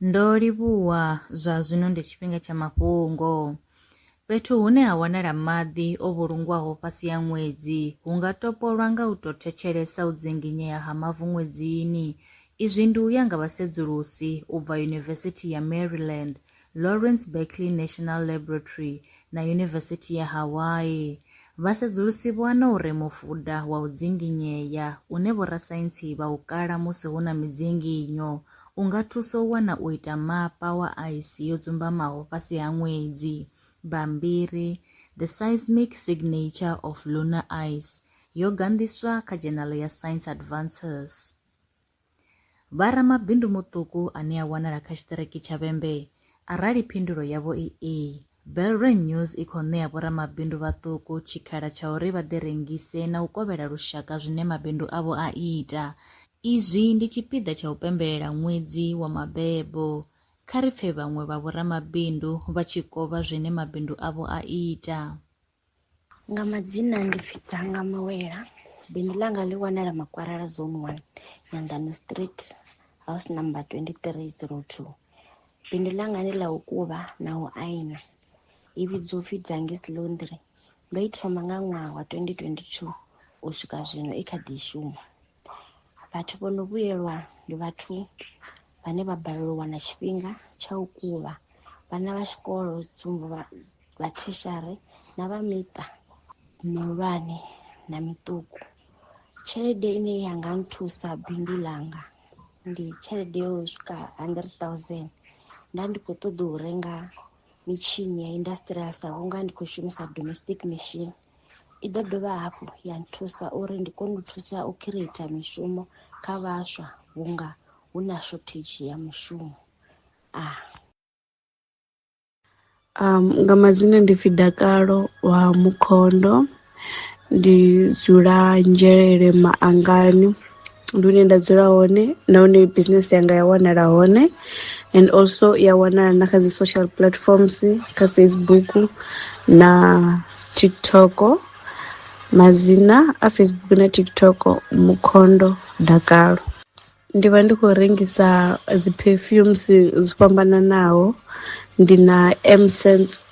Ndo livhuwa, zwa zwino ndi tshifhinga tsha mafhungo. Fhethu hune ha wanala maḓi o vhulungwaho fhasi ha ṅwedzi hu nga topolwa nga u tou thetshelesa u dzinginyea ha mavu ṅwedzini. Izwi ndi u ya nga vhasedzulusi u bva Yunivesithi ya Maryland, Lawrence Berkeley National Laboratory na Yunivesithi ya Hawaii. Vhasedzulusi vho wana uri mufuda wa u dzinginyea une vhorasaintsi vha u kala musi hu na midzinginyo U nga thusa u wana u ita mapa wa aisi yo dzumbamaho fhasi ha ṅwedzi. Bammbiri The Seismic Signature of Lunar Ice yo ganḓiswa kha dzhenala ya Science Advances. Vha ramabindu muṱuku ane a wanala kha tshiṱiriki tsha Vhembe arali phindulo yavho i ee, Belreign News i khou ṋea vhoramabindu vhaṱuku tshikhala tsha uri vha ḓi rengise na u kovhela lushaka zwine mabindu avho a ita. Izwi ndi tshipiḓa tsha u pembelela ṅwedzi wa mabebo. Kha ri pfe vhaṅwe vha vhoramabindu vha tshi kovha zwine mabindu avho a ita. Nga madzina ndi pfi Dzanga Mawela. Bindu ḽanga ḽi wanala Makwarela Zone 1, Nyanḓano Street, house number 2302. Bindu ḽanga ndi ḽa u kuvha na u aina. I vhidzwa upfi Dzangis Laundry. Ndo i thoma nga ṅwaha wa 2022 u swika zwino i kha ḓi shuma. Vhathu vho no vhuyelwa ndi vhathu vhane vha balelwa u wana tshifhinga tsha u kuvha vhana vha tshikolo tsumbo vha vha theshiari na vha miṱa mihulwane na miṱuku. Tshelede ine ya nga nthusa bindu ḽanga ndi tshelede yo swika hundred thousand nda ndi kho ṱoḓa u renga mitshini ya industrial sa vhunga ndi khou shumisa domestic machine. i ḓo dovha hafhu ya nthusa uri ndi kone u thusa u khireitha mishumo kha vhaswa vhunga hu na shothedzhi ya mushumo a ah. um, nga madzina ndi pfi dakalo wa mukhondo ndi dzula nzhelele maangani ndi hune nda dzula hone na hune business yanga ya wanala hone and also i ya wanala na kha dzi social platforms kha Facebook na TikTok madzina a Facebook na TikTok Mukhondo Dakalo ndi vha ndi khou rengisa dzi perfumes dzo fhambananaho ndi na M sense.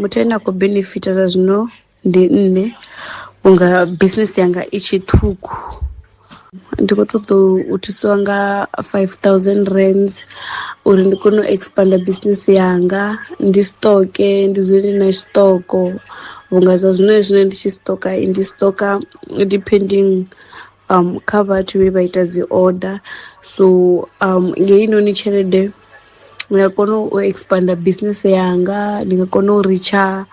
muthu ane a khou benefita zwa zwino ndi nṋe vhunga business yanga i tshe ṱhukhu ndi khou ṱoḓa u thusiwa nga five thousand rands uri ndi kone u expand business yanga ndi stock ndi dzule ndi na stock vhunga zwa zwino zwine ndi tshi stock ndi stock depending kha vhathu vhe vha ita dzi order so ngei noni tshelede ndi nga kona u expand business yanga ndi nga kona u ritsha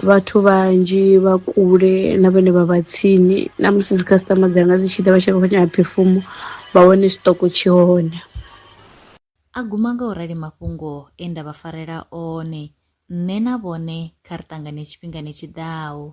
vhathu vhanzhi vha kule na vhane vha vha tsini na musi dzi customer dzanga dzi tshi ḓa vha tshi kho nyaga phefumo vha wane tshiṱoko tshi hone. A guma nga u rali mafhungo e nda vha farela one, nṋe na vhone kha ri ṱangane tshifhingani tshi ḓaho.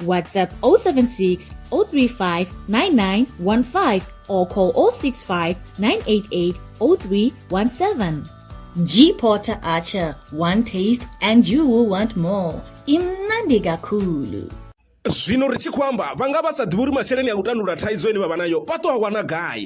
WhatsApp 076 035 9915 or call 065 988 0317. G Porter Archer, one taste and you will want more. Imnandi Gakulu. zwino ri tshi khou amba vha nga vha sa ḓivhi uri masheleni a u tandulula thaidzo ine vha vha nayo vha ṱo a wana gai